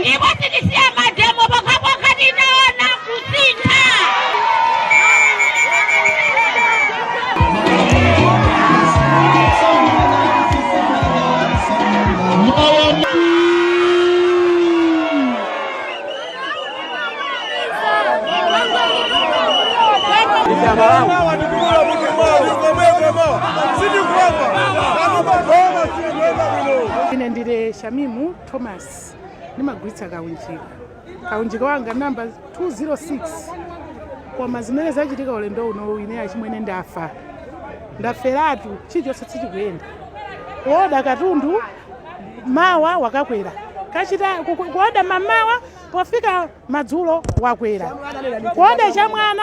ndipo sitisiya mademo pokhapokha titaona kusintha Ine ndine Shamimu Thomas ndimagulitsa kaunjika. Kaunjika wanga namba 206. Koma zimene zachitika ulendo unowu ine achimwene ndafa. Ndaferatu chilichonse sichikuyenda. Kuoda katundu mawa wakakwera. Ukachita ku- ku- kuoda m'mamawa pofika madzulo wakwera. Kuoda chamwana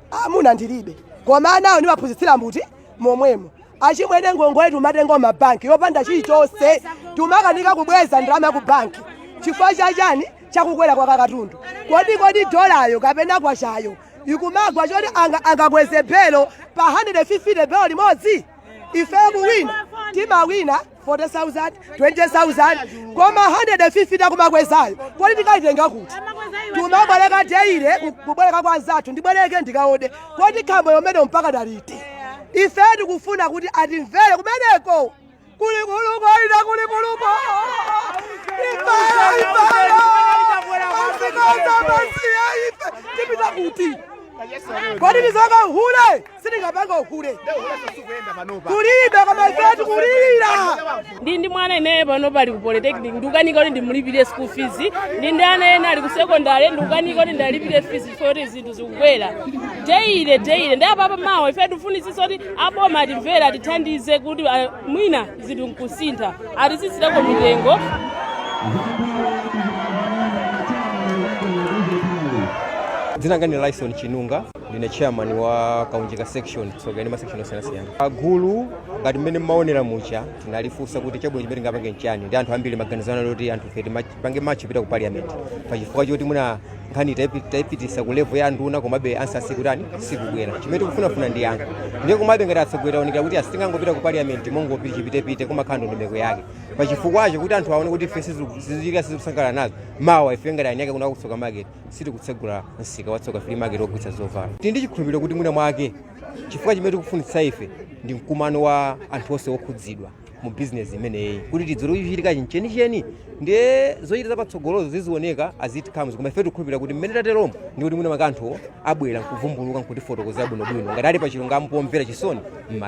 mwamuna ndilibe koma anawo ndimaphunzitsira m'butiki momwemo achimwene ngongole timatenga m'mabanki yopanda chilichonse timakanika kubweza ndalama ya ku banki chifukwa cha chani chakukwera kwa katundu kodi kodi dolayo kapena kwachayo ikumagwa choti anga- angakweze belo pa 150 belo limodzi ifeyo kuwina timawina 40,000, 20,000 koma 150 akumakwezayo kodi tikaitenga kuti timabwereka deile kubwereka kwa anzathu ndibwereke ndikaode kodi khambo yomene mpaka daliti ife tikufuna kuti atimvere kumeneko kulikuluko inde kulikuluko ifeyo ifeyo azimayi amasiye ife tipita kuti kodi tizikapanga uhule sitingapange uhule kulibe koma ife tikulira ndi ndi mwana ineyo panopa ali ku polytechnic ndikukanika kuti ndimulipire school fees ndi ndi ana ena ali ku secondary ndikukanika kuti ndiwalipire fees chifukwa kuti zinthu zikukwera deile deile ndi apapa mawa ife tikufunitsitsa kuti aboma atimvere atithandize kuti ah, mwina zinthu nkusintha atitsitsireko mitengo dzina langa ndi lyson chinunga ndine chairman wa kaunjika section tsoka ndi masection osiyanasiyana gulu ngati mmene mmaonera muja tinalifunsa kuti chabwino chimene tingapange nchani ndi anthu ambiri maganizo anali oti anthufe tipange march kupita ku parliament pachifukwa choti mwina nkhani taipi- taipitisa ku level ya nduna komabe ansa siikutani siikubwera chimene tikufunafuna ndi yankho ndiye komabe ngati atsogoleri zaonekera kuti ah sitingangopita ku parliament mongopita chipitepite kumakhala ndondomeko yake pachifukwacho kuti anthu aone kuti ife sizi- sitiku- sitikusangalala nazo mawa ife ngati eni ake kuno ku tsoka market sitikutsegula msika wa tsoka flea market wogulitsa zovala tili ndi chikhulupiriro kuti mwina mwake chifukwa chimene tikufunitsa ife ndi mkumano wa anthu onse okhudzidwa mu bizinesi imeneyi kuti tidziwe kuti chikuchitika chenicheni ndiye zochita zapatsogolozo zizioneka as it comes koma ife tikukhulupirira kuti mmene tateromo ndi kuti mwina mwake anthu abwera nkuvumbuluka nkutifotokozera bwinobwino ngati ali pa chilungamo pomvera chisoni m'malawi